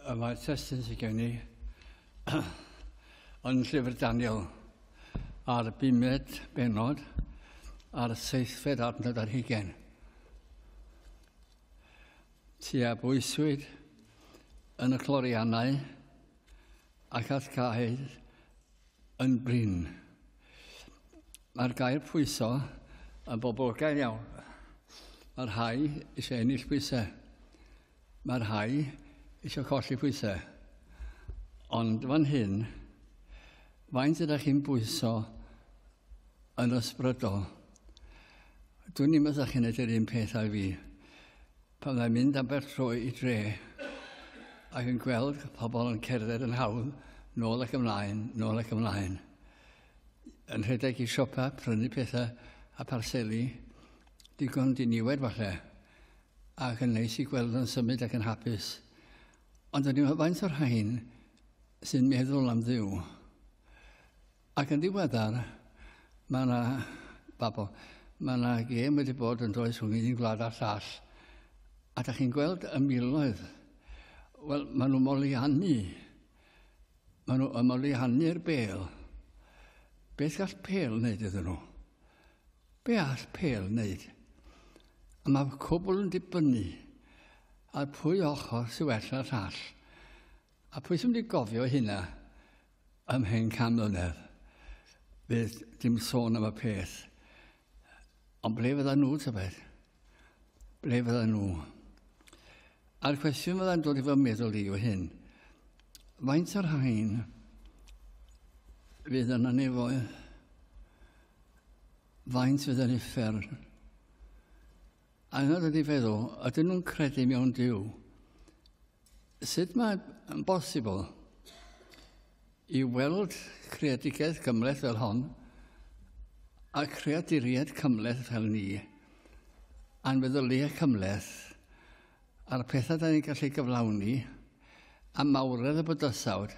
y mae testyn sydd gen i yn llyfr Daniel a'r bumed benod a'r seithfed adnod ar hugen. Ti a bwyswyd yn y cloriannau ac at cael yn brin. Mae'r gair pwyso yn boblogaidd iawn. Mae rhai eisiau ennill pwysau. Mae rhai eisiau colli pwysau. Ond fan hyn, faint ydych chi'n bwyso yn ysbrydol? Dwi'n ni'n meddwl chi'n edrych un peth â fi. Pan fyddai'n mynd am bell tro i dre, ac yn gweld pobl yn cerdded yn hawdd, nôl ac ymlaen, nôl ac ymlaen, yn rhedeg i siopa, prynu pethau a pharseli, digon diniwed falle, ac yn neis i gweld yn symud ac yn hapus. Ond o'n i'n meddwl faint o'r rhain sy'n meddwl am ddiw. Ac yn ddiweddar, mae yna, babo, mae yna gêm wedi bod yn does rhwng un gwlad a'r llall, a da chi'n gweld y miloedd, wel, maen nhw moliannu, maen nhw yn moliannu'r bel. Beth gall pel wneud iddyn nhw? Be all pel wneud? A mae cwbl yn dibynnu ar pwy ochr sy'n well na'r llall. A pwy sy'n mynd i gofio hynna? Am hen can mlynedd, fydd dim sôn am y peth. Ond ble fydda nhw, tybed? Ble fydda nhw? A'r cwestiwn fydda'n dod i fy meddwl i yw hyn. Faint o'r rhain fydd yna nefoedd? Faint fydd yn uffern? Anodd ydi feddwl, ydyn nhw'n credu mewn Dyw? Sut mae'n bosibl i weld creadigaeth gymleth fel hon a creaduriaid cymleth fel ni a'n feddyliau cymleth a'r pethau da ni'n gallu gyflawni a mawredd y bydysawd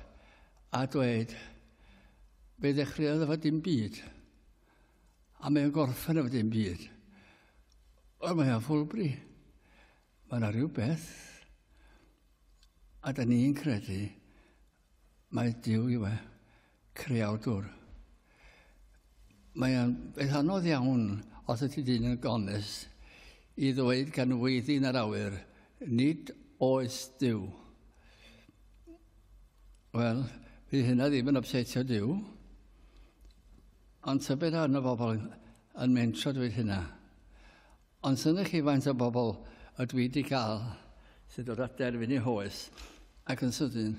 a dweud fe ddechreuodd efo dim byd. A mae'n gorffen efo dim byd. Wel, mae o'n ffwlbri. Mae yna rhywbeth. A da ni'n credu mae Dyw i we, creawdwr. Mae o'n beth anodd iawn os ydy dyn yn gones i ddweud gan weiddi yn yr awyr, nid oes Dyw. Wel, bydd hynna ddim yn obsetio Dyw. Ond tybed arno bobl yn mentro dweud hynna. Ond synnwch chi faint o bobl y dwi wedi cael sydd dod at derfyn eu hoes ac yn sydyn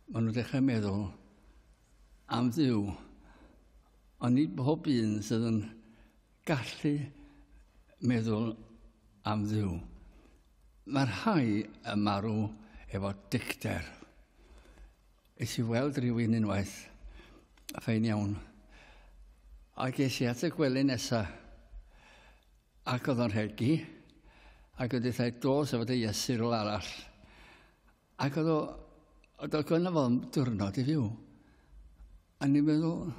maen nhw'n dechrau meddwl am ddiw. Ond nid bob un sydd yn gallu meddwl am ddiw. Mae'r rhai y marw efo dicter. Es i weld rhywun unwaith. Fein iawn. A ges i at y gwely nesa. Ac oedd o'n rhegi. Ac oedd eithau dos efo dy iesu rôl arall. Ac oedd o... Oedd o gynnu fo diwrnod i fyw. A ni'n meddwl...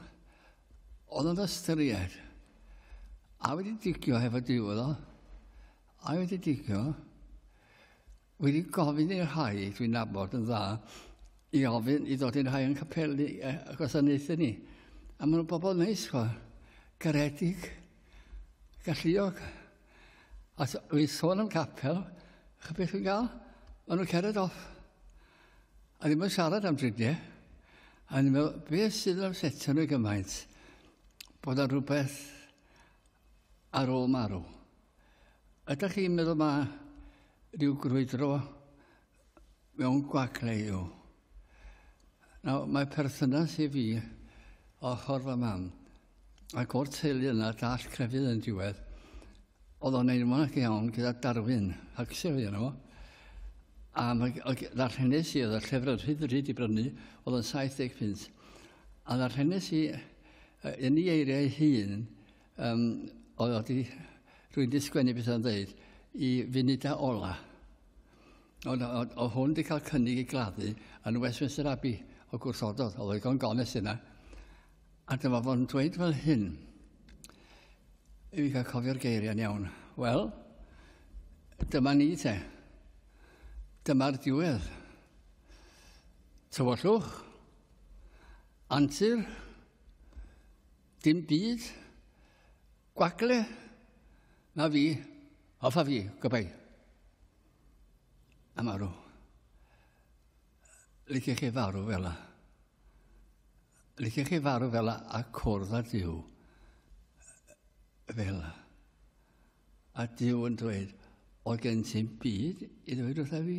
Oedd o'n ystyried. A wedi digio hefo diw oedd o. A wedi digio... wedi gofyn i'r rhai dwi'n nabod yn dda i ofyn i ddod i'n rhai yn capelu e, y gwasanaethau ni. A maen nhw'n bobl neis, chwa. Garedig, galluog. A dwi'n sôn am capel, chyd beth dwi'n gael? Maen nhw'n cered off. A ddim yn siarad am dridiau. A ni'n meddwl, beth sydd yn amsetio nhw gymaint? Bod ar rhywbeth ar ôl marw. Ydych chi'n meddwl mae rhyw grwydro mewn gwag neu yw? Nawr, mae perthynas i fi o ffordd fy mam ac o'r teulu yna dall crefydd yn diwedd oedd o'n ein mwyn ac iawn gyda Darwin Huxley yno fo. A mae ddarllenes i oedd y llyfr yn rhydd rhyd i brynu oedd yn 70 pint. A ddarllenes i yn ei eiriau ei hun Um, oedd o di, rwy'n di sgwennu beth o'n dweud, i funud a ola. Ond o, o hwn di cael cynnig i gladdu yn Westminster Abbey o gwrthododd, oedd o'n gones yna. A dyma fo'n dweud fel hyn, i fi cael cofio'r geiriau'n iawn. Wel, dyma ni te. Dyma'r diwedd. Tywyllwch, antur, Dim byd. Gwagle. Na fi. Hoffa fi. Gobai. A marw. Lyci chi farw fel la. Lyci chi farw fel la a cwrdd a diw. Fel la. A diw yn dweud, o gen ti'n byd i ddweud wrtha fi?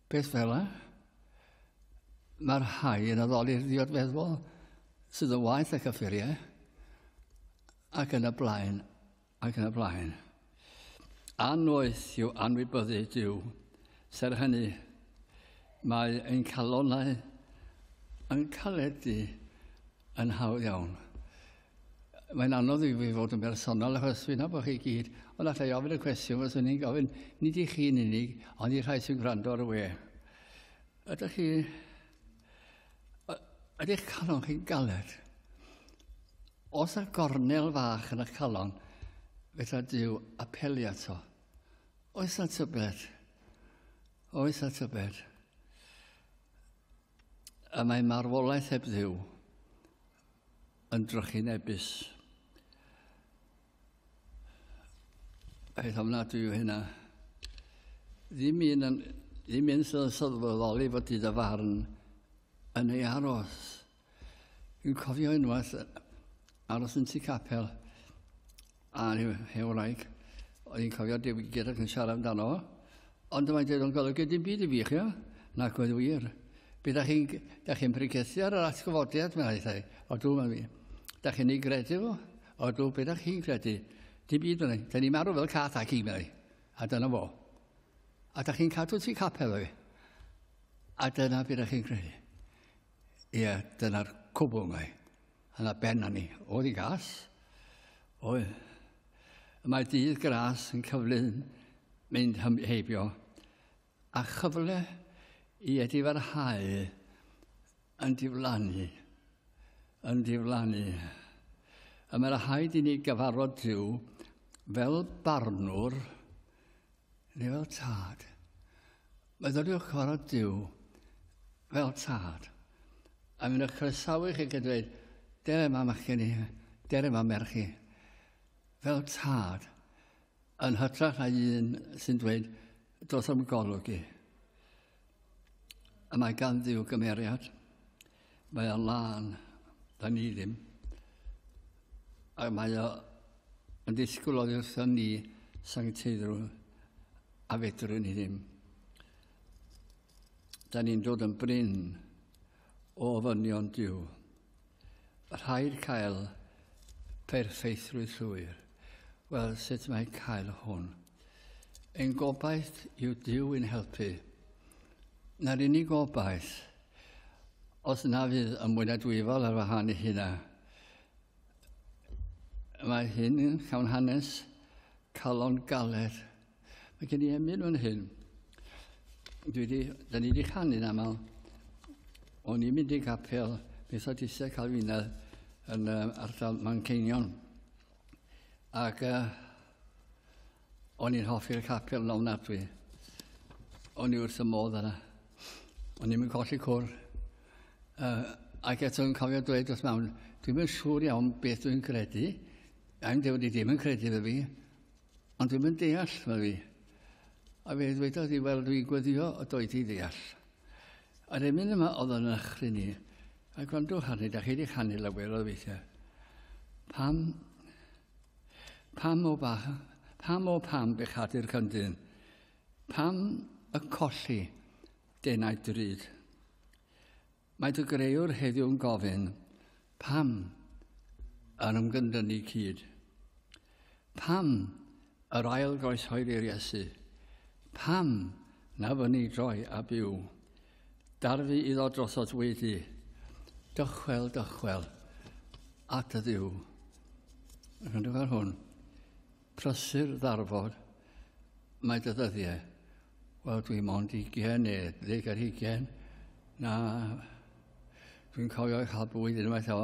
Peth fel yna. Mae'r rhai yn addoli'r ddiod feddwl sydd yn waith ac offeriau ac yn y blaen ac yn y blaen. Anoeth yw anwybyddu Dyw. Ser hynny, mae ein calonau yn caledu yn hawdd iawn. Mae'n anodd i fi fod yn bersonol achos fi'n nabod chi gyd, ond allai i ofyn y cwestiwn fyswn i'n gofyn, nid i chi'n unig, ond i'r rhai sy'n gwrando ar y we. Ydych chi... Ydych calon chi'n galed? Os y gornel fach yn y calon, fydda Dyw apelu ato. Oes na tybed? Oes na tybed? Y mae marwolaeth heb ddiw. yn drychinebus. Peth ofnadwy yw hynna. Ddim un yn, ddim un sydd yn sylweddoli fod i dy farn yn ei aros. Dwi'n cofio unwaith aros yn tu capel A rhyw hen wraig, oedd hi'n cofio diwygiad ac yn siarad amdano fo. Ond mae'n dweud o'n golygu dim byd i fi, chi o? Nac oedd wir. Bydd â chi'n da chi'n brigethu ar yr atgyfodiad, mae'n hithau. O dw, mae'n fi. Da chi'n ei gredu fo? O dw, bydd â chi'n credu. Dim byd, mae'n ei. Da ni'n marw fel cath ac i, mae'n ei. A dyna fo. A da chi'n cadw ti capel, mae'n ei. A dyna bydd â chi'n credu. Ie, dyna'r cwbl, mae'n ei. Yn a ben a ni, oedd i gas. Oedd. Y mae dydd gras yn cyflyn mynd hym heibio, a chyfle i edifarhau yn diflannu, yn diflannu. Y mae rhaid i ni gyfarfod Dyw fel barnwr Ni fel tad. Myfyriwch cyfarfod Duw fel tad. A mi'n eich croesawu chi gyda dweud, dere ma machgen i, dere ma merch i. Fel tad, yn hytrach na un sy'n dweud, dos am golwg i. Y mae gan ddiw gymeriad. Mae o'n lân. Da ni ddim. A mae o yn disgwyl oddi wrthon ni sancteiddrw a fedrwn ni ddim. Da ni'n dod yn bryn o ofynion diw. Rhaid cael perffeithrwydd llwyr. Wel, sut mae cael hwn? Ein gobaith yw Dyw yn helpu. Na'r unig gobaith, os na fydd y mwy na dwyfol ar wahan i hynna. Mae hyn yn llawn hanes calon galed Mae gen i emyn fan hyn. Dwi di, da ni wedi canu'n aml. O'n i'n mynd i gapel Methodistau Calfinedd yn uh, ardal Manceinion. Ac uh, o'n i'n hoffi'r capel yn ofnadwy. O'n i wrth y modd yna. O'n i'n mynd colli cwr. Uh, ac eto yn cofio dweud wrth mawn, dwi'n mynd siŵr iawn beth dwi'n credu. I'm ddim wedi ddim yn credu fe fi. Ond ddim yn deall, fel fi. A fe ddwedodd i, wel, dwi'n gweddio o doi ti ddeall. A'r emyn yma oedd yn achri ni. A gwrando hanu, da chi wedi canu lawer o weithiau. Pam, pam o ba, pam o pam bechadu'r cyndyn? Pam y colli denau drud? Mae dy greuwr heddiw'n gofyn, pam yr ymgyndynnu cyd? Pam yr ail groeshoeli'r Iesu? Pam na fyny droi a byw? Darfu iddo drosodd wedi, dychwel, dychwel, at y ddiw. Rwy'n ar hwn. Prysur ddarfod mae dy ddyddiau. Wel, dwi mond ugen ne ddeg ar ugen. Na, dwi'n cofio cael bwyd unwaith o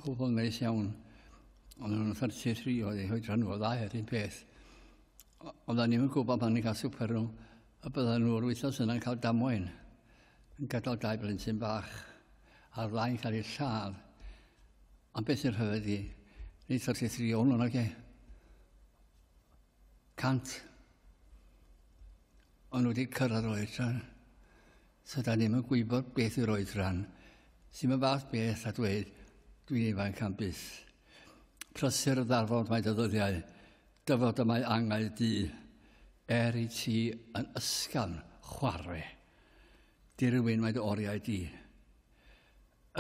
gwbl neis iawn. Ond yn 33 oedd ei hoedran nhw, ddau yr un peth. Ond o'n ni'n gwybod pan ni'n cael swper nhw, A byddan nhw yr wythnos yna'n cael damwain, yn gadael dau blentyn bach ar flaen cael ei lladd. Am beth sy'n rhyfedd i, ni ddod i thri o'n nag e. Cant. Ond wedi cyrraedd yr oedran. So da ni'n yn gwybod beth yw'r oedran. Sy'n mynd fath beth a dweud, dwi'n ifanc am bus. Prysur y ddarfod mae dy ddyddiau. Dyfod y mae angau du, er i ti yn ysgafn chwarre, dirywyn mae dy oriau di.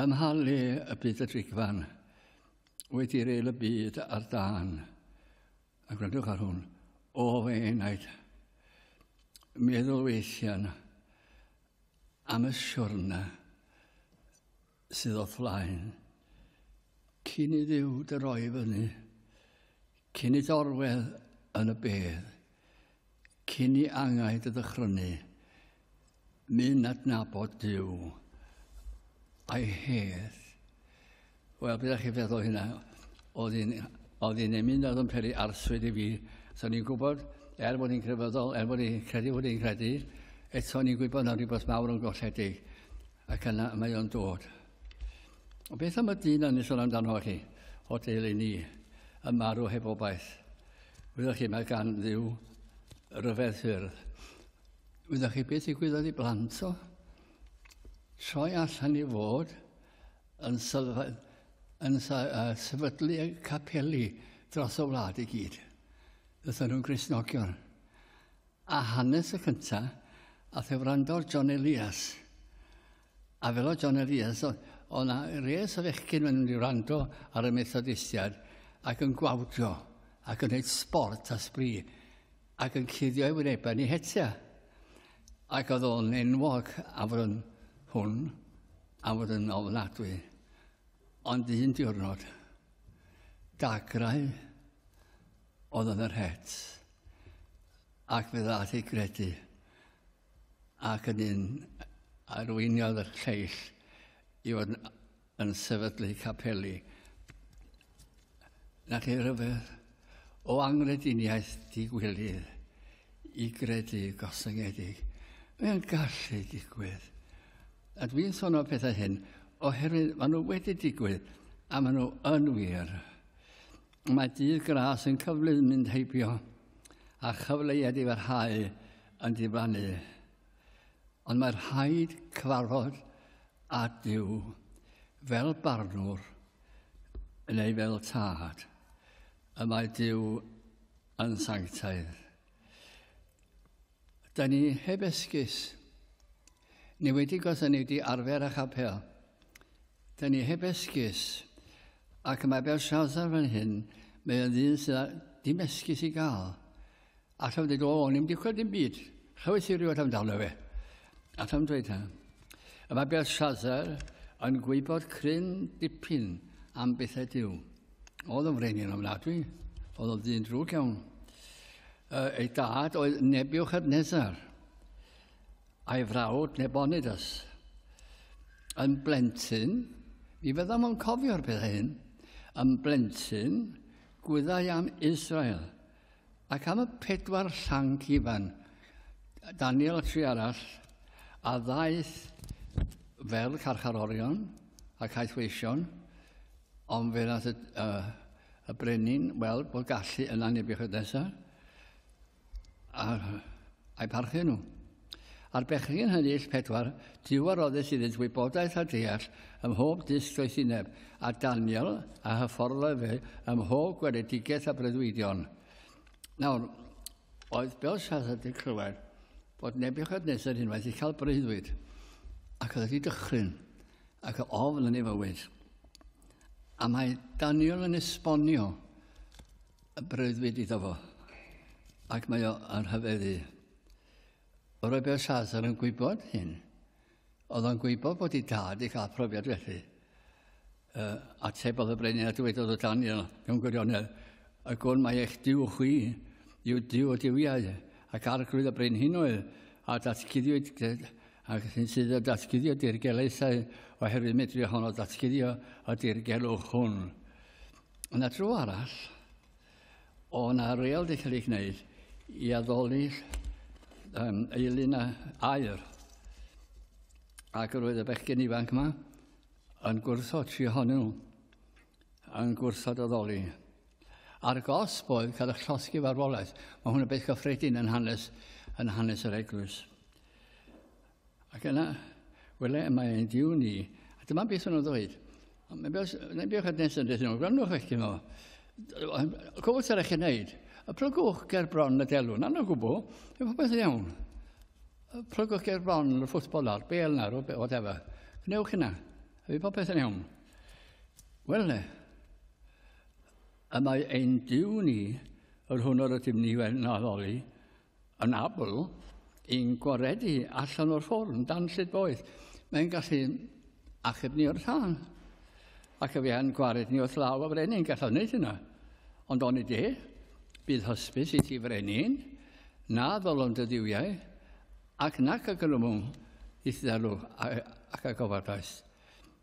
Ym mha le y byd y drigfan, wedi reil y byd ar dan, a gwrandwch ar hwn, o fe enaid, meddwl weithian am y siwrna sydd o flaen, cyn i Dduw dy roi i fyny, cyn i dorwedd yn y bedd, cyn i angau dy ddychrynu, mynd adnabod Duw a'i hedd. Wel, beth ydych chi'n feddwl hynna? Oedd hi'n oedd hi'n emyn oedd yn peri arswyd i fi. So ni'n gwybod, er bod hi'n crefyddol, er bod hi'n credu bod hi'n credu, eto ni'n gwybod na rhywbeth mawr yn golledig. Ac yna mae o'n dod. Ond beth am y dyn yn sôn amdano chi, o deulu ni, y marw heb obaith? Wyddoch chi, mae gan ddiw ryfedd ffyrdd. Wyddoch chi beth i gwyddoedd i blant o? Troi allan i fod yn, sylfa, yn uh, sefydlu y capeli dros y wlad i gyd. Ddython nhw'n grisnogion. A hanes y cynta ath e wrando ar John Elias. A fel o John Elias, o' 'na res o fechgyn yn mynd i wrando ar y Methodistiaid ac yn gwawdio ac yn neud sbort a sbri ac yn cuddio ei wynebau ni hetia. Ac oedd o'n enwog am fod yn hwn, am fod yn ofnadwy. Ond un diwrnod, dagrau Oedd yn yr het, ac fe ddaeth ei gredu, ac yn un arweiniodd y lleill i fod yn sefydlu capeli. Na chi rhyfedd o angrediniaeth digwilydd i gredu gosyngedig. Mae'n gallu digwydd. A dwi'n sôn o pethau hyn oherwydd maen nhw wedi digwydd a maen nhw yn wir. Mae dydd gras yn cyflym mynd heibio a chyfleoedd i farhau yn diflannu. Ond mae rhaid cyfarfod â Duw fel barnwr neu fel tad. Y mae Duw yn sanctaidd. Da ni heb esgus. Ni wedi gos a ni wedi arfer â chapel. Da ni heb esgus. Ac mae Belshazzar fan hyn, mae o'n ddyn sydd â dim esgus i gael. Ac am dweud, o, o'n i'n digwydd dim byd. Chawes i rywbeth amdano fe. Ac am dweud hyn. Y mae Belshazzar yn gwybod cryn dipyn am bethau diw. Oedd o'n frenin ofnadwy. Oedd o'n ddyn drwg iawn. Uh, ei dad oedd Nebuchadnezzar, a'i frawd Nebonidas. Yn blentyn, mi fydda mo'n cofio'r pethau hyn, yn blentyn, gwyddau am Israel, ac am y pedwar llanc ifan, Daniel a tri arall, a ddaeth fel carcharorion ac aethweision, ond fe nath y, uh, y brenin weld bod gallu yna Nebuchadnezzar a a'i parchu nhw. A'r bechgyn hynny ill pedwar, diw a roddus iddynt wybodaeth a deall ym mhob dysg doethineb, a Daniel a hyfforddle fe ym mhob gweledigaeth a breuddwydion. Nawr, oedd Belshazzar wedi clywed bod Nebuchadnezzar unwaith wedi cael breuddwyd, ac oedd wedi dychryn. ac o ofl yn ei fywyd. A mae Daniel yn esbonio y breuddwyd iddo fo, ac mae o yn hyfeddu. O roi Belsazar yn gwybod hyn, oedd o'n gwybod bod ei dad i cael profiad felly. Uh, atebodd y brenin a dywedodd o Daniel mewn gwirionedd, y gwn mae eich diw chwi yw diw o diwiau, ac arglwydd y brenhinoedd, a datguddiwyd ac sy'n sydd o datguddio dirgelaethau oherwydd medru ohono datguddio y dirgelwch hwn. Yna tro arall, o na reol wedi cael ei gwneud i addoli um, eilun a air. Ac roedd y bechgyn ifanc yma yn gwrthod tri ohonyn nhw, yn gwrthod addoli. A'r gosb oedd cael eich llosgi farwolaeth. Mae hwn yn beth gyffredin yn hanes, yn hanes yr eglwys. Ac yna, wele, mae ein diw ni. A dyma beth o'n ddweud. Mae'n beth, na beth oedd nes yn dweud, gwrandwch eich dyma. Cofwch sy'n eich wneud. Y plygwch ger bron y delwn, anna gwbl, fe popeth yn iawn. Y plygwch ger bron y ffwtbol ar, bel na, o whatever. Gwnewch hynna, fe popeth yn iawn. Wel, y mae ein diw ni, yr hwn o'r ydym ni wedi naddoli, yn abl i'n gwaredu allan o'r ffordd yn dan llyd boeth. Mae'n gallu achub ni o'r tân. Ac y fe'n gwared ni wrth law a frenin, gallaf wneud hynna. Ond oni de, bydd hysbys i ti frenin, na ddolon dy ddiwiau, ac nac a gryfwng i ddalw ac a gofadaeth.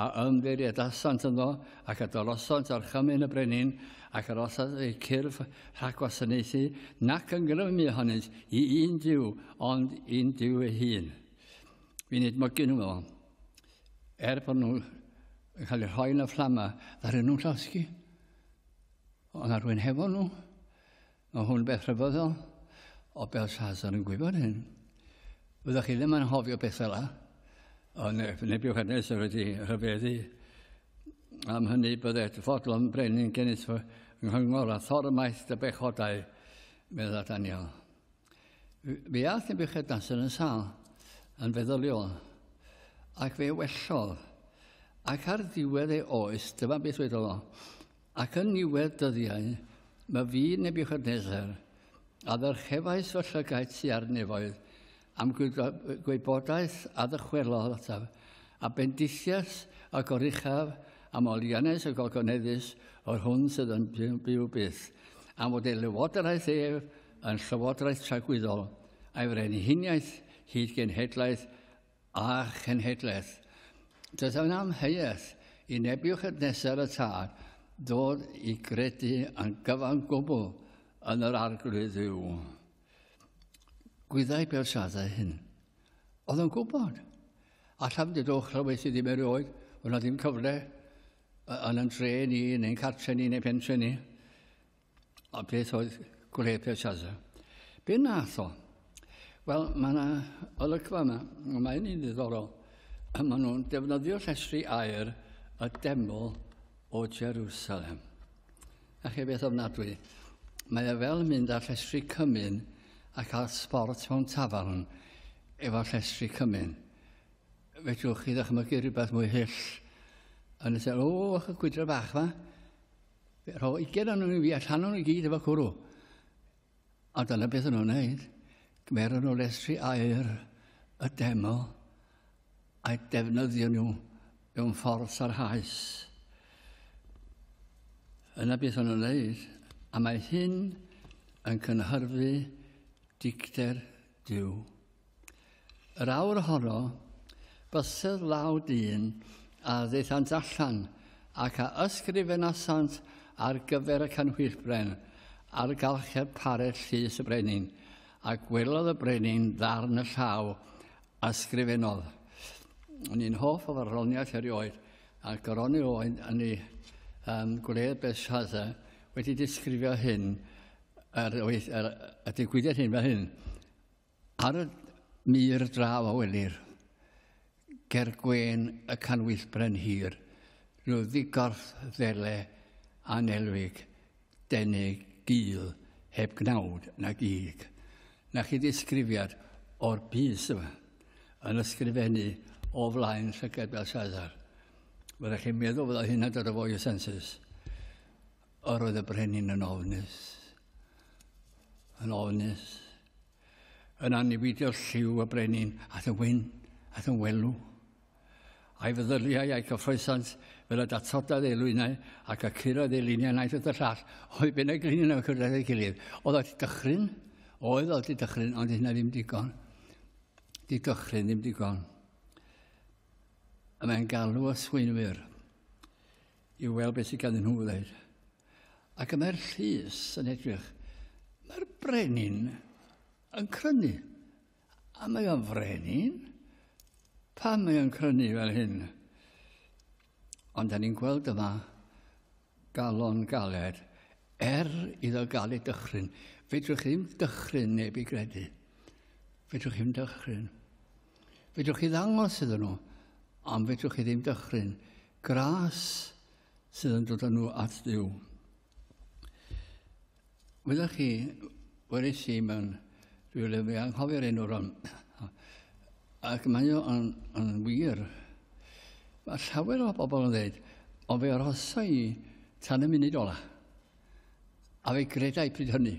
a ymddiriedasant ynddo, ac a dorosant orchymyn y brenin, ac yr osant eu cyrff rhag gwasanaethu, nac yn grymu ohonynt i un diw, ond i'n diw ei hun. Fi'n edmygu nhw fel, er bod nhw'n cael eu rhoi yn y fflamau, ddaru nhw'n llosgi. Ond ar rwy'n hefo nhw, Mae hwn beth rhyfeddol, o Belshazzar yn gwybod hyn. Fyddwch chi ddim yn hofio beth fel yna, ond Nebuchadnezzar wedi rhyfeddu am hynny bydded fodlon brenin genys fy nghyngor a thormaeth dy bechodau, medda Daniel. Fe ath Nebuchadnezzar yn sal yn feddyliol, ac fe wellodd, ac ar ddiwedd ei oes, dyma beth wedodd o, Ac yn niwedd dyddiau, mae fi Nebuchadnezzar, a ddyrchefais fy llygaid tu ar nefoedd, am gwybodaeth a ddychwelodd ataf, a bendithias a goruchaf am olianais y gogoneddus o'r hwn sydd yn byw byth, am fod ei lywodraeth ef yn llywodraeth tragwyddol, a'i frenhiniaeth hyd genhedlaeth a chenhedlaeth. Does yn amheuaeth i Nebiwchadnesar y Tad ddod i gredu yn gyfan gwbl yn yr arglwydd dduw. Gwyddau Belshazzar hyn. Oedd yn gwybod. A llafn dydw chlywais i ddim erioed, oedd na ddim cyfle yn yn tre ni, neu'n cartre ni, neu'n pentre ni. A beth oedd Gwrhe Belshaza? Be nath o? Wel, mae yna olygfa yma, a mae hynny'n ddiddorol. Maen nhw'n defnyddio llestri air y deml o Jerusalem. A chi beth ofnadwy? Mae e fel mynd ar llestri cymyn a cael sport mewn tafarn efo llestri cymyn. Fedrwch chi ddychmygu rhywbeth mwy hyll yn y sen, o, y gwydra bach yma, Rho ugain o'n nhw'n fi allan o'n nhw gyd efo cwrw. A dyna beth o'n nhw'n neud. Gymer o'n nhw lesri air y deml a'i defnyddio nhw mewn ffordd sarhaus. Yna beth o'n nhw'n neud. A mae hyn yn cynhyrfu dicter Duw. Yr awr honno, bysedd law dyn a ddeithant allan, ac a ysgrifenasant ar gyfer y canhwyllbren, ar galchedd parell llys y brenin, a gwelodd y brenin ddarn y llaw, ysgrifennodd. O'n i'n hoff o farddoniaeth erioed, ac yr oni oed yn ei um, gwledd Belshazzar wedi disgrifio hyn, ar, ar y digwyddiad hyn fel hyn, ar y mur draw a welir, ger gwen y canwyllbren hir, rhyw ddigorth ddele anelwig, denig gil, heb gnawd na gig. Na chi ddisgrifiad o'r bus yma, yn ysgrifennu o flaen llygad Belshazzar. Fyddech chi'n meddwl fydda hynna'n dod o fwy o sensus. Yr oedd y brenin yn ofnus, yn ofnus, yn annibidio lliw y brenin at y wyn, at y welw. A'i feddyliau a'i cyffroesant fel y datodad ei lwynau ac y cyrraedd ei luniau naeth y llall, oedd byn y gliniau yn cyrraedd ei gilydd. Oedd oedd dychryn, oedd oedd dychryn, ond hynna ddim digon. Di dychryn ddim digon. A mae'n galw y swynwyr I weld beth sydd ganddyn nhw ddeud. Ac y mae'r llys yn edrych. Mae'r brenin yn crynu. A mae o'n frenin? Pam mae o'n crynu fel hyn? Ond da ni'n gweld yma galon galed er iddo gael ei dychryn. Fedrwch chi'n dychryn neb i gredu. Fedrwch chi'n dychryn. Fedrwch chi ddangos iddyn nhw, ond fedrwch chi ddim dychryn gras sydd yn dod â nhw at ddiw. Wyddoch chi, wedi si mewn rhyw le, fi anghofio'r enw ron, ac mae o'n yn wir. Mae llawer o bobl yn dweud, ond fe arhosa i tan y munud ola. A fe gredau pryd hynny.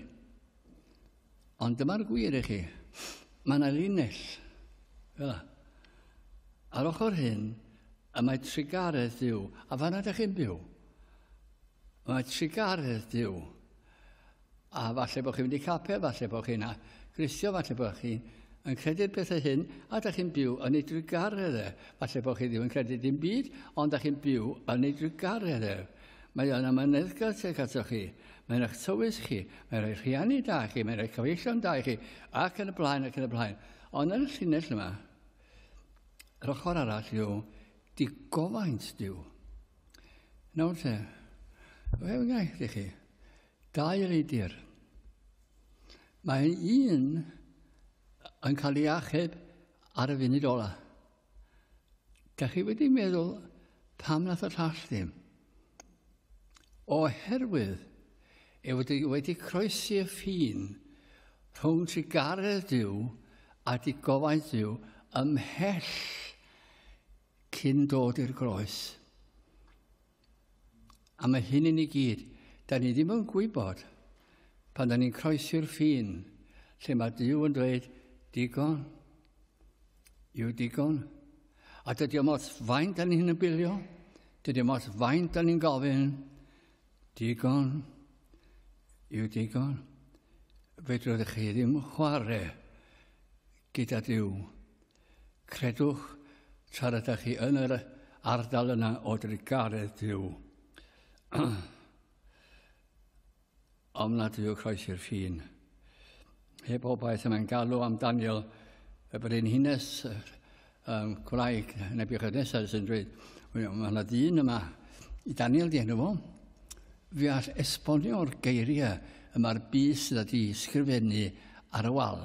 Ond dyma'r gwir i chi, mae yna linell fel yna. Ar ochr hyn, y mae trugaredd Dyw, a fanna ydych chi'n byw. Mae trugaredd Dyw. A falle bod chi'n mynd i capel, falle bod chi'n grithio, falle bod chi'n yn credu'r pethau hyn, a da chi'n byw yn ei drugaredd e. Falle bod chi ddim yn credu dim byd, ond da chi'n byw yn ei drugaredd e. Mae yna myneddgar tuag ato chi. Mae'n eich tywys chi, mae'n rhoi rhiannu da chi, mae'n rhoi cyfeillion da i chi, ac yn y blaen ac yn y blaen. Ond yn y llinell yma, yr ochr arall yw digofaint diw. Nawr te, fe wnaeth i chi, dau reidir. Mae un yn cael ei achub ar y funud ola. Da chi wedi meddwl pam nath y llall ddim? Oherwydd e wedi, wedi croesi y ffin rhwng ti garedd Dyw a di gofaint Dyw ymhell cyn dod i'r groes. A mae hyn i ni gyd. Da ni ddim yn gwybod, pan da ni'n croesi'r ffin, lle mae Dyw yn dweud, digon, yw digon. A dydy o mos faint da ni'n bilio, dydy o mos faint da ni'n gofyn, digon, yw digon. Fedrwch chi ddim chwarae gyda Dyw. Credwch, tra rydych chi yn yr ardal yna o drugaredd Duw, ofnadwy o croesi'r ffin. Heb obaith yma'n galw am Daniel, y brenhines um, gwraig Nebuchadnezzar sy'n dweud, mae yna dyn yma, i Daniel di enw fo, fi all esbonio'r geiriau y mae'r bus sydd wedi sgrifennu ar y wal.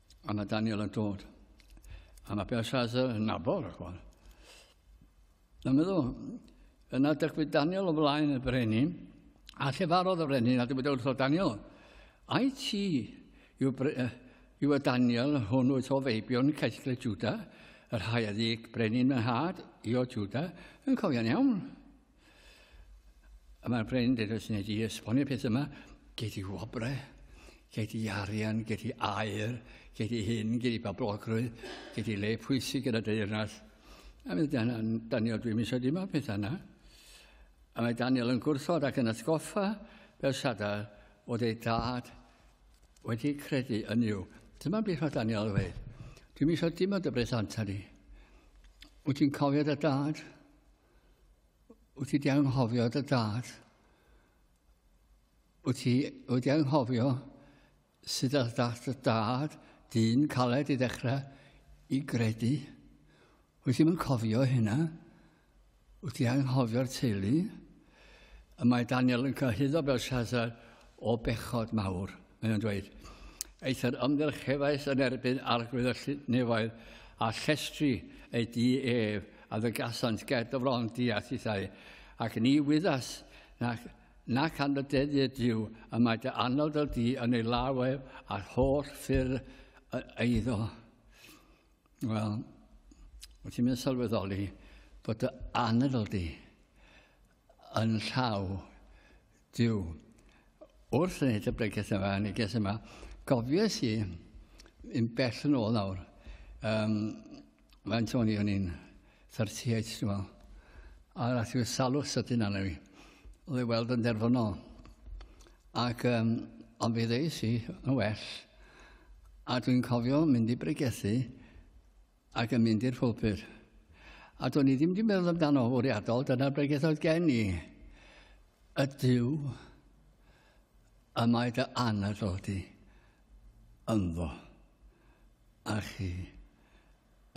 A mae Daniel yn dod. A mae Belshazzar yn nabod y chwan. Dwi'n meddwl, yna dygwyd Daniel o flaen y brenin, a llefarodd y brenin, a dwi'n meddwl wrtho Daniel, ai ti yw, yw y Daniel hwn wyt o feibion caethle Juda, yr haeddig brenin yn had i o Juda, yn cofian iawn. A mae'r brenin dweud, os wneud i esbonio peth yma, gei di wobrau, gei di arian, gei di air, gei di hyn, gei di bablogrwydd, gei di le pwysig yn y deyrnas. A mae Daniel, dwi'n mysio dim o'r pethau yna. A mae Daniel yn gwrthod ac yn atgoffa Belsada oedd ei dad wedi credu yn yw. Dyma beth mae Daniel yn dweud. Dwi'n mysio dim ond y brethanta ni. Wyt ti'n cofio dy dad? Wyt ti wedi anghofio dy dad? Wyt ti wedi anghofio sut all dad dy dad, dyn caled i ddechrau, i gredu? Wyt ti'n cofio hynna? Wyt ti anghofio'r teulu? Y mae Daniel yn cyhyddo Belshazzar o bechod mawr. Mae nhw'n dweud, eithr ymgyrch cefais yn erbyn arglwydd y llunefoedd a llestri ei di ef a ddygasant ger dyfron di a thithau, ac ni wyddas nac, nac anrydeddu Dyw y mae dy anod o di yn ei law ef a'r holl ffyrdd eiddo. Wel, wyt ti'n mynd sylweddoli bod dy anadl di yn llaw Duw. Wrth wneud y bregeth yma, y neges yma, gofies i yn bell yn ôl nawr, um, faint o'n i o'n i'n 38, dwi'n meddwl, a rath i'r salwch sydyn arno fi, oedd ei weld yn derfynol. Ac um, ond fe ddeis i yn well, a dwi'n cofio mynd i bregethu ac yn mynd i'r pulpud. A do'n i ddim wedi meddwl amdano o fwriadol, dyna'r bregeth oedd gen i. Y Dyw y mae dy anadl di ynddo. A chi,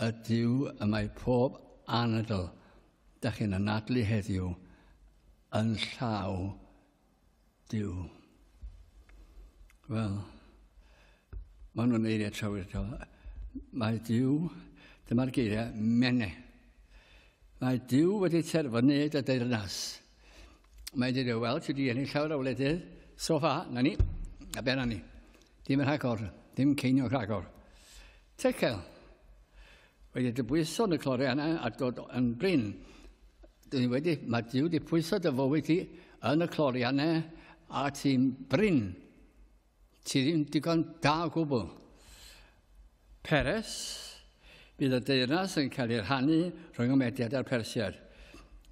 y Dyw y mae pob anadl da chi'n anadlu heddiw yn llaw Duw. Wel, maen nhw'n eiriau trawiadol. Mae Duw, dyma'r geiriau, mene. Mae Duw wedi terfynu dy deyrnas. Mae wedi dweud, wel, ti wedi ennill llawer o wledydd, so fa, na ni, a ben ni. Dim yn rhagor, dim ceiniog rhagor. Tecael. Wedi dy bwyso yn y clore yna a dod yn brin. Dwi wedi, mae Dyw wedi pwyso dy fywyd ti yn y clore yna a ti'n brin. Ti ddim digon da o gwbl. Peres, bydd y deyrnas yn cael ei rhannu rhwng y Mediad a'r Persiad.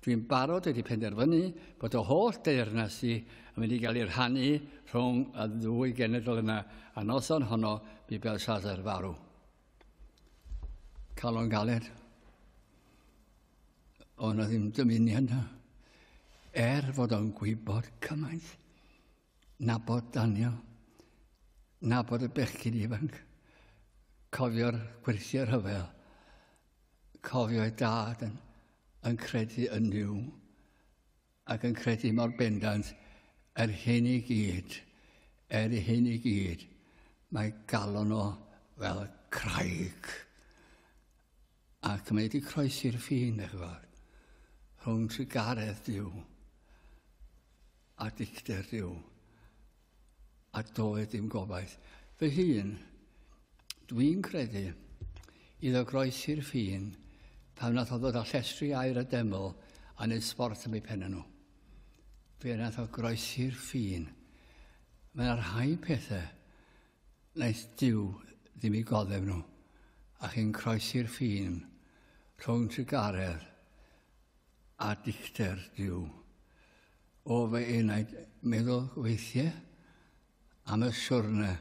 Dwi'n barod wedi penderfynu bod y holl deyrnas i yn mynd i gael ei rhannu rhwng y ddwy genedl yna, a noson honno bu Belshazzar farw. Calon galed. O na ddim dymuniad na. Er fod o'n gwybod cymaint, nabod Daniel, nabod y bechgyn ifanc, cofio'r gwerthiau rhyfel, cofio'i dad yn, yn credu yn Duw, ac yn credu mor bendant yr hyn i gyd, er y hyn i gyd, mae galon o fel craig. Ac mae wedi croesi'r ffin, eich fawr, rhwng trigaredd diw a dicter diw. a doedd dim gobaith. Fy hun, dwi'n credu, iddo groesi'r ffin pan nath o ddod â llestri air a deml a wneud sbort am ei pennau nhw. Fe nath o groesi'r ffin. Mae yna rhai pethau naeth diw ddim i goddef nhw, a chi'n croesi'r ffin rhwng trugaredd a dicter diw. O fy enaid meddwl weithiau am y siwrne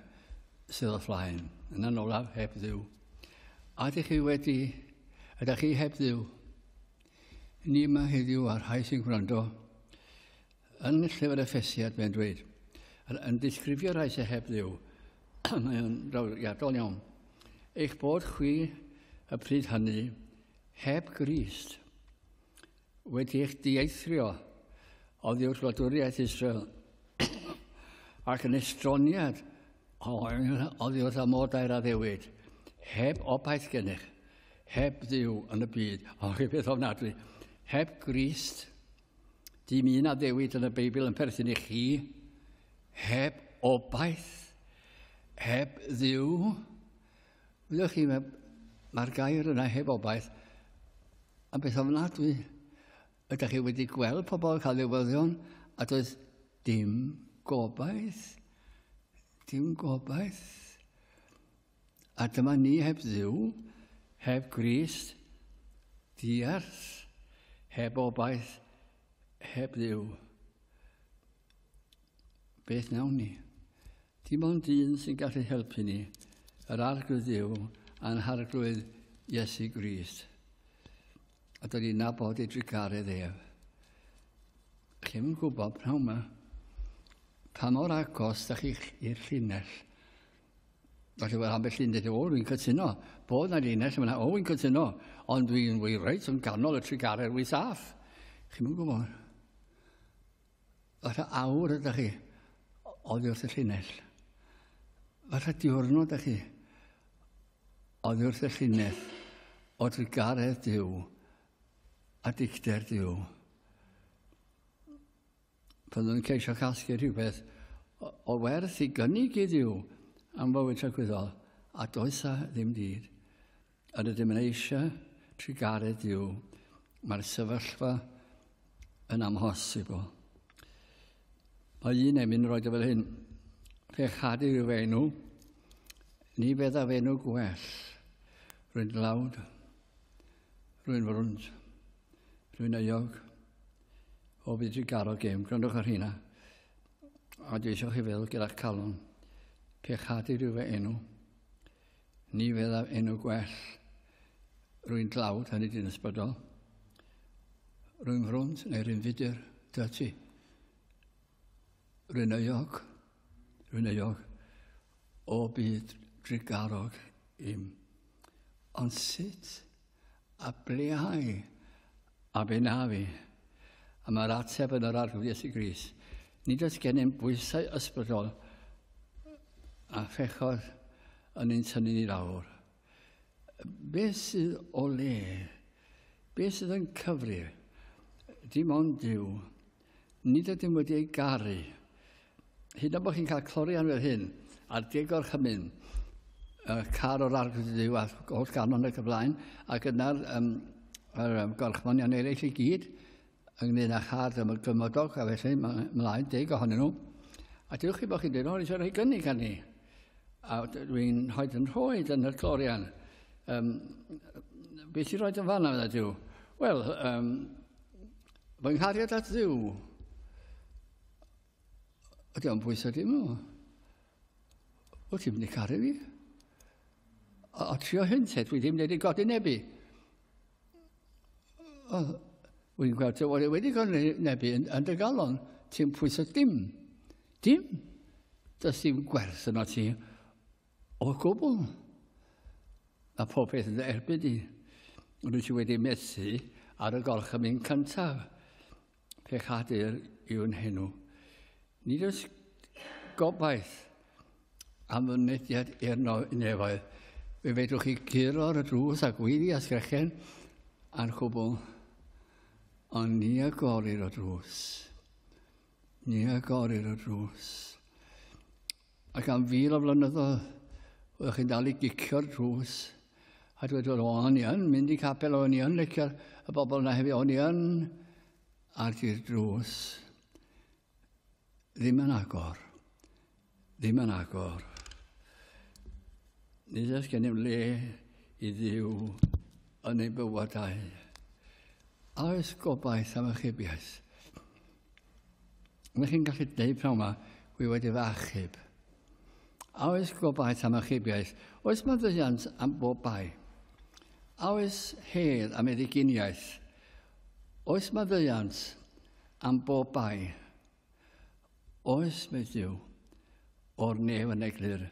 sydd o flaen, yn anolaf heb ddiw. A ydych chi wedi, ydych chi heb ddiw? Ni yma heddiw a'r rhai sy'n gwrando. Yn llyfr Efesiad, mae'n dweud, yn, yn disgrifio rhai sy'n heb ddiw, mae'n drawiadol iawn. Eich bod chwi y pryd hynny heb Grist. wedi eich dieithrio oddiwrth wladwriaeth Israel ac yn estroniad oddiwrth amodau'r addewid, heb obaith gennych, heb ddiw yn y byd, o rhywbeth ofnadwy, heb Grist, dim un addewid yn y Beibl yn perthyn i chi, heb obaith, heb ddiw, Ydych chi, mae, mae'r gair yna heb obaith yn beth ofnadwy. Ydych chi wedi gweld pobl cael newyddion a does dim gobaith? Dim gobaith. A dyma ni heb ddiw, heb Grist, diarth, heb obaith, heb ddiw. Beth nawn ni? Dim ond un sy'n gallu helpu ni, yr arglwydd Dyw a'n harglwydd Iesu Grist. A dod i'n nabod ei drugaredd ef. Chi'n yn gwybod pnawn yma, pa mor agos da chi i'r llinell. Felly wedi bod ambell llun dweud, o, dwi'n cytuno, bod na llinell yma, o, dwi'n cytuno, ond dwi'n fwy reit yn ganol y trugaredd fwy saff. Chi'n yn gwybod? Fatha awr ydych chi oddi wrth y llinell. Fatha diwrnod ydych chi oddi wrth y llinell o drugaredd Dyw a dicter Dyw. Byddwn yn ceisio casglu rhywbeth o werth i gynnig i Dduw am fywyd tragwyddol a does a ddim dyd. Yr ydym yn eisiau trugaredd yw mae'r sefyllfa yn amhosibl. Mae un emyn yn rhoi dy fel hyn. Fe chadu yw fe enw. Ni fedda fe enw gwell. Rwy'n dlawd. Rwy'n frwnt. Rwy'n euog. O fi drigaro gêm. Gwrandwch ar hynna. A dwi eisiau chi feddwl gyda'ch calon. Fe chadu yw fe enw. Ni fyddaf enw gwell rwy'n dlawd, hynny di'n ysbrydol. Rwy'n frwnt neu rwy'n fudur, dy ti. Rwy'n euog, rwy'n euog, o byd drigarog im. Ond sut A blyhau, a benafu. A mae'r ateb yn yr Arglwydd Iesu Gris. Nid oes gennym bwysau ysbrydol a phechod yn ein tynnu ni lawr. Beth sydd o le? Beth sydd yn cyfrif? Dim ond Duw. Nid ydym wedi ei garu. Hyd o bod chi'n cael clorian fel hyn, a degor chymyn, uh, car o'r arglwydd yw a holl ganon ac y blaen, ac yna'r um, er, um, gorchmonion eraill i gyd, ynglyn â char ddim yn gymodog, a felly mlaen deg ohonyn nhw. A dywch chi bod chi'n dweud, o, eisiau rhoi gynnig gan ni. A dwi'n hoed yn rhoi yn yr clorian. Um, beth sy'n rhoi yn fanna, fydda diw? Wel, um, Fy nghariad at ddiw. Ydy o'n bwysau dim nhw. Wyt ti'n mynd i caru fi? A, a trio hyn te, dwi ddim wedi i godi nebu. O, wy'n gweld ti wedi wedi godi nebu yn, yn dy galon. Ti'n pwysau dim. Dim. Does dim gwerth yno ti. O gwbl. Mae popeth yn dy erbyn di. Rwyt ti wedi methu ar y gorchymyn cyntaf. Pechadur yw'n henw. Nid oes gobaith am fy mynediad i'r nefoedd. Fe fedrwch chi guro ar y drws a gweiddi a sgrechen a'r cwbl. Ond ni agorir o drws. Ni agorir o drws. Ac am fil o flynyddoedd, oeddech chi'n dal i gicio'r drws a dweud, o, o'n i yn mynd i capel, o'n i yn licio'r y bobl yna hefyd, o'n i yn... Ar di'r drws, ddim yn agor, ddim yn agor. Nid oes gennym le i ddiw yn ei bywydau. A oes gobaith am ychybiaeth? Ydych chi'n gallu dweud pnawn yma, wy wedi fy achub? A oes gobaith am achubiaeth? Oes maddeuant am bob bai? A oes hedd am eddyginiaeth? Oes maddeuant am bob bai? Oes, mae Dyw, o'r nef yn eglur,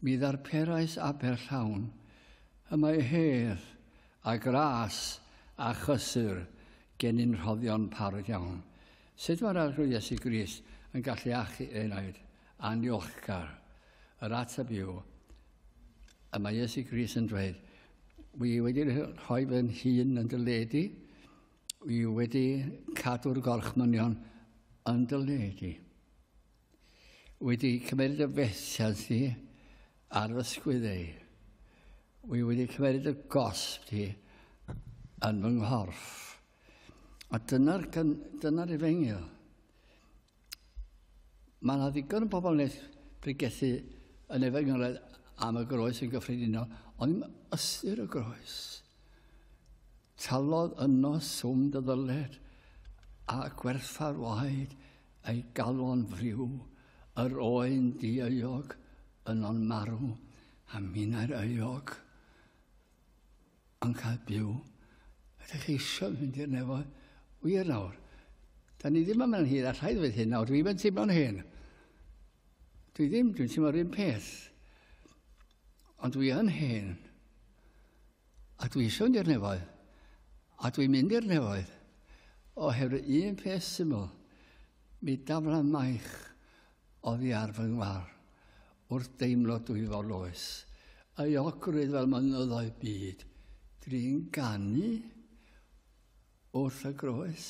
mi ddarperais aber llawn, y mae hedd a gras a chysur Gennym rhoddion parod iawn. Sut mae'r Arglwydd Iesu Grist yn gallu achu enaid anniolchgar? Yr ateb yw, y mae Iesu Grist yn dweud, Wi wedi rhoi fy nhîn yn dy ledi, wi wedi cadw'r gorchmynion yn dy ledi. wedi cymryd y fethiant ni ar fy sgwyddau. Wy wedi cymryd y gosb ni yn fy nghorff. A dyna'r dyna efengyl. Mae yna ddigon o bobl nes pregethu yn efengyledd am y groes yn gyffredinol, ond ddim ystyr y groes. Talodd yno swm dy ddyled a gwerthfawr waed ei galon friw, yr oen dieuog yno'n marw, a minnau'r euog yn cael byw. Ydych chi eisiau mynd i'r nefoedd? Wir nawr, da ni ddim yn mynd hyd, a rhaid fydd hyn nawr, dwi'n mynd teimlo'n hyn. Dwi ddim, dwi'n teimlo'r un peth. Ond dwi yn hyn. A dwi eisiau mynd i'r nefoedd. A dwi'n mynd i'r nefoedd. Oherwydd un peth syml, mi daflan maich oddi ar fy ngwar wrth deimlo dwy fo loes, euogrwydd fel mynyddoedd byd. Dwi'n ganu Wrth y groes,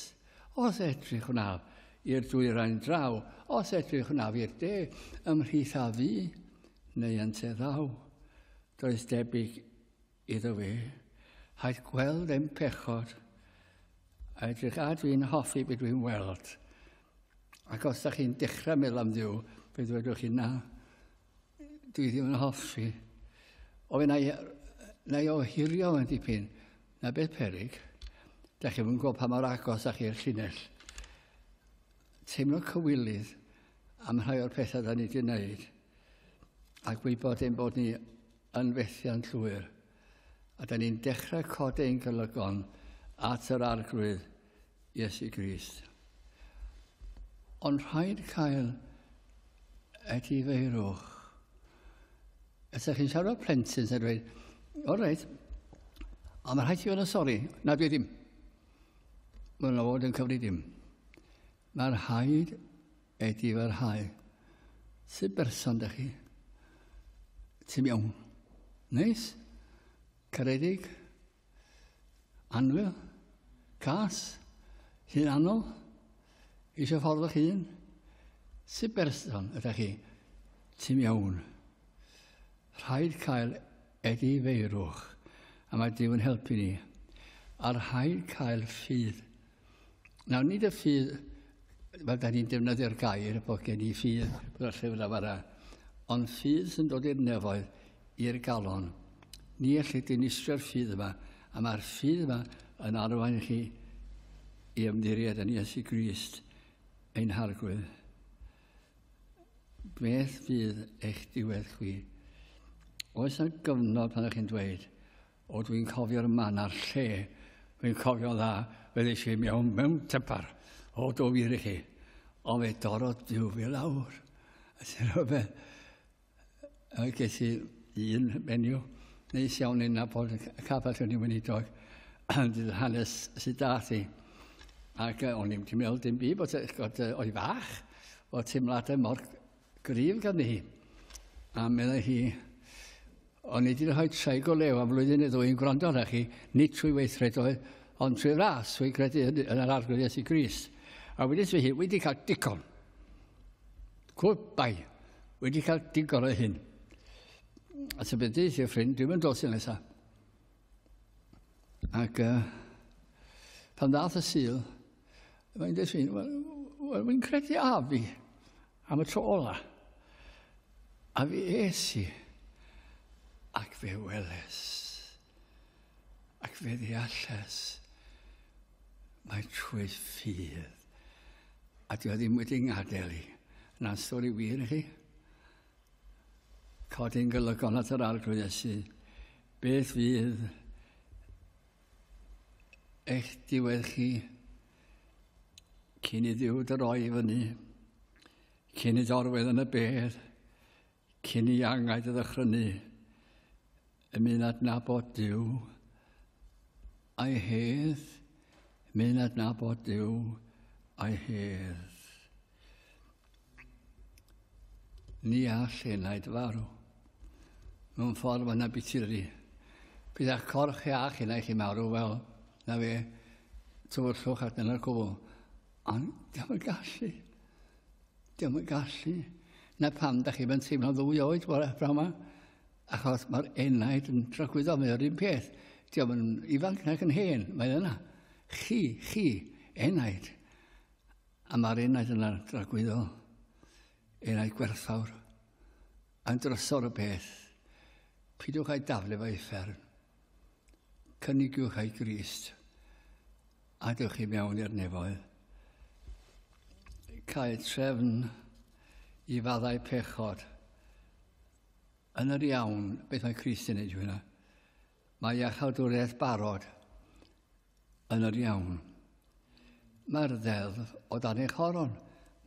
os edrych wnaf i'r dwyrain draw, os edrych wnaf i'r de, ymhlith a fu, neu yn te ddaw, does debyg iddo fe, haid gweld ein pechod, a edrych a dwi'n hoffi beth dwi'n weld. Ac os da chi'n dechrau meddwl am ddiw, fe ddwedwch chi na, Dwi ddim yn hoffi. O, na i, na i ohirio yn dipyn. Na beth perig. Da chi'n gwybod pa mor agos da chi'r llinell. Teimlo cywilydd am rhai o'r pethau da ni wedi wneud a gwybod ein bod ni yn fethiant llwyr. A da ni'n dechrau cod ein golygon at yr arglwydd Iesu Grist. Ond rhaid cael edifeirwch. Ydych chi'n siarad o plentyn sy'n dweud, o reit, a mae rhaid i fod yn sori. Na, dwi ddim. Mae'n fod yn cyfri dim. Mae'r rhaid I ti farhau, sut berson dych chi? Ti'n iawn? Neis? Caredig? Anwyl? Cas? Hunanol? Eisiau ffordd o'ch hun? Sut berson ydych chi? Ti'n iawn? Rhaid cael edi feirwch, a mae Duw yn helpu ni. A rhaid cael ffydd Nawr, nid y ffydd, fel da ni'n defnyddio'r gair, bod gen i ffydd bod y llyfr yna fara, ond ffydd sy'n dod i'r nefoedd, i'r galon. Ni allai dinistrio'r ffydd yma, a mae'r ffydd yma yn arwain chi i ymddiried yn Iesu Grist, ein harglwydd. Beth fydd eich diwedd chwi? Oes yna gyfnod pan ydych chi'n dweud, O dwi'n cofio'r man a'r lle. Dwi'n cofio dda, fe ddeis i mewn mewn typar. O do fi rhi. O fe dorodd diw fi lawr. A ti'n rhywbeth. A ges i un menyw. Neis iawn yn nabod y cafell yn ei weinidog. Dydd hanes sydd da thi. Ac o'n i'n meddwl dim byd bod o'i fach. O teimladau mor Gryf ganddi hi. A meddai hi, o'n i wedi rhoi traig o lew am flwyddyn neu ddwy'n gwrando arna chi, nid trwy weithredoedd, ond trwy ras, trwy credu yn, yn yr arglwydd Iesu Grist. A wedi dweud hi, wedi cael digon. Gwbai, wedi cael digon o hyn. A sy'n beth dweud i'r ffrind, dwi'n mynd dos i nesaf. Ac uh, pan ddath y syl, mae'n dweud sy'n, wel, wel fi'n credu a fi am y tro ola. A fi es i, ac fe weles, ac fe ddealles, mae trwy ffydd. A dwi ddim wedi ngadael i. Na'n stori wir i chi? Codi'n golygon at yr Arglwydd Iesu, beth fydd eich diwedd chi cyn i ddiw dy roi i fyny, cyn i dorwedd yn y bedd, cyn i angau dy ddychrynu, Yn mynd adnabod Dyw, a'i hedd, mynd adnabod Dyw, a'i hedd. Ni all hynna i farw. Mewn ffordd mae'n abitur i. Bydd a'ch corff chi a'ch hynna i chi marw fel na fe tywyllwch at yna'r cwbl. Ond diolch yn gallu. Diolch yn gallu. Na pam, da chi fe'n teimlo ddwy oed, bore, brawma. Achos mae'r enaid yn tragwyddo, mae o'r un peth. Diolch yn ifanc nac yn hen, mae yna. Chi, chi, enaid. A mae'r enaid yna dragwyddo, enaid gwerthfawr. A'n drysor y peth, pidiwch a'i daflu fe i fferm. Cynigiwch a'i grist, a dewch chi mewn i'r nefoedd. Cael trefn i faddau pechod, Yn yr iawn, beth mae Christ yn neud hwnna? Mae iachawdwriaeth barod yn yr iawn. Mae'r ddeddf o dan ei choron.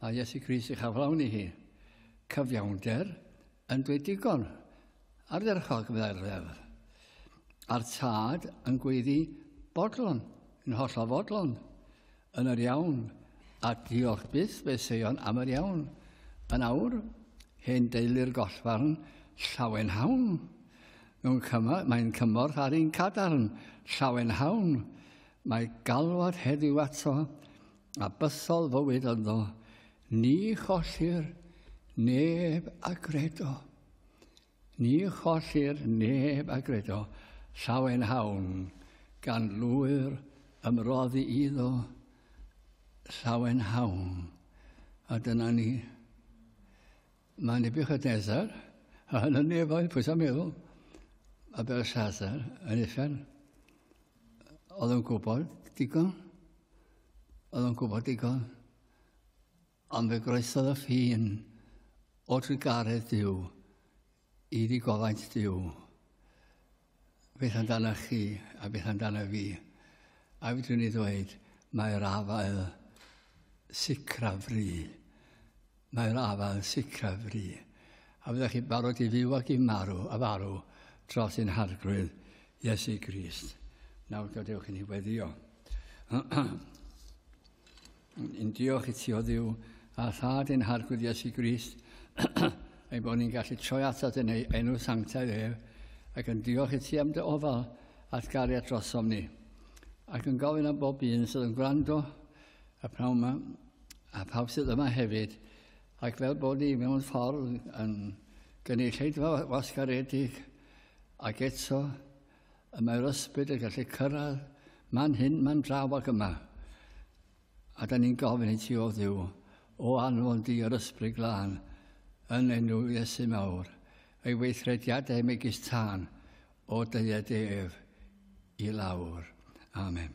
Mae Iesu Christ eich aflawni hi. Cyfiawnder yn dweud digon. Ardderchog, meddai'r ddeddf. A'r tad yn gweiddi bodlon, yn hollol fodlon. yn yr iawn, ac diolch byth fe seion am yr iawn. Yn awr, hen deulu'r gollfarn, llawen hawn. Mewn cyma, mae'n cymorth ar un cadarn, llawen hawn. Mae galwad heddiw ato, a bythol fywyd ynddo, ni chollir neb a gredo. Ni chollir neb a gredo llawen hawn gan lwyr ymroddi iddo llawen hawn. A dyna ni. Mae Nebuchadnezzar, a hyn yn nefoedd, pwys am meddwl, a Belshazzar yn uffern. Oedd yn gwybod digon. Oedd yn gwybod digon. Ond fe groesodd y ffin o drugaredd Duw i ddigofaint Duw. Beth amdano chi a beth amdano fi? A fydrwn ni ddweud, mae'r afael sicra fri. Mae'r afael sicra fri. A fyddwch chi barod i fyw ac i marw, a farw, dros ein harglwydd Iesu Grist. Nawr gadewch i ni weddio. Yn diolch i ti o ddiw a thad yn harglwydd Iesu Grist, ei bod ni'n gallu troi atat yn ei enw sanctaidd ef, ac yn diolch i ti am dy ofal at gariad drosom ni. Ac yn gofyn am bob un sydd yn gwrando, a pnawn yma, a pawb sydd yma hefyd, ac fel bod ni mewn ffordd yn gynulleidfa wasgaredig, ac eto Y mae'r ysbryd yn gallu cyrraedd man hyn, man draw ac yma. A da ni'n gofyn i ti o ddiw, o anfon di yr ysbryd glân, yn enw Iesu mawr, ei weithrediadau megis tân o dyed ef i lawr. Amen.